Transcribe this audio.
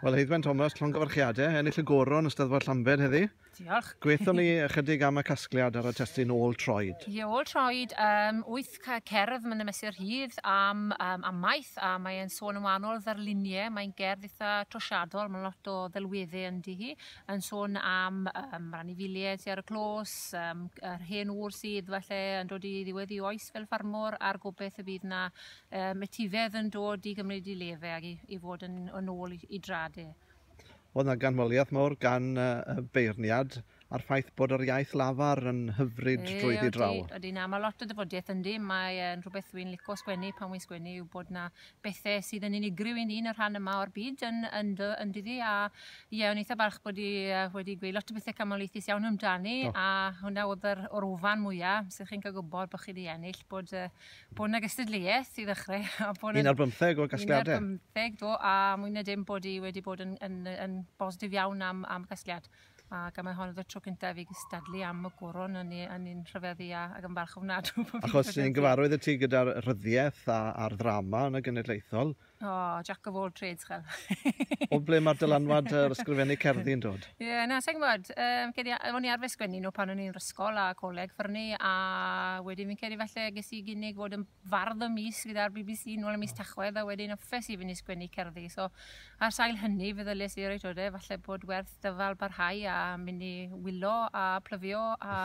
Wel, Heiddwen Thomas, llongyfarchiadau, ennill y goron y Steddfod Llambed heddi. Diolch. Gweithio ni ychydig am y casgliad ar y testyn ôl troed. Ie, ôl troed, um, wyth cerdd mae'n ymesur hyd am um, amaeth, a mae'n sôn yn wahanol ddarluniau, mae'n gerdd eitha trosiadol, mae'n lot o ddelweddau yn di hi, yn sôn am um, rhan i filiau ti ar y clos, um, yr hen ŵr sydd falle yn dod i ddiwedd i oes fel ffarmwr, a'r gobeith y bydd na Yym, etifedd yn dod i gymryd i lefe ag i i fod yn yn ôl i i drad e. O'dd 'na ganmoliaeth mawr gan y y beirniad a'r ffaith bod yr iaith lafar yn hyfryd Ie, drwyddi odi, draw. odi, na, ma' lot o ddyfodieth yndi, mae e'n rhwbeth wi'n lico sgwennu pan wi'n sgwennu yw bod 'na bethe sydd yn unigryw i ni yn y rhan yma o'r byd yn yn dy- yn dydi a ie o'n eitha balch bod 'i yy wedi gweud lot o bethe camoliaethus iawn amdani Do. a hwnna o'dd yr o'r wfan mwya, 'se chi'n ca'l gwbod bo' chi 'di ennill bod yy bod yna gystadleuaeth i ddechrau. A bod un ar bymtheg o gasgliadau. Un ar bymtheg, do, a mwy na dim bod i wedi bod yn, yn, yn bositif iawn am, am gasgliad. Ac mae hon oedd y tro cyntaf i gystadlu am y goron yn ni'n rhyfedd i a, ac yn falch ofnadw. Achos ni'n gyfarwydd y ti gyda'r rhyddiaeth a'r ddrama yn y genedlaethol, O, oh, jack of all trades, chael. o ble mae'r dylanwad yr ysgrifennu cerddi yn dod? Ie, yeah, na, sa'n gwybod. Um, cedi, o'n i arfer sgwennu nhw pan o'n i'n rysgol a coleg ffyrnu, a wedyn fi'n cedi felly ges i gynig fod yn fardd y mis gyda'r BBC nôl y mis tachwedd, a wedyn yffes i fynd i sgwennu cerddi. So, ar sail hynny, fe ddylus i reit o de, falle bod werth dyfal barhau a mynd i wylo a plyfio a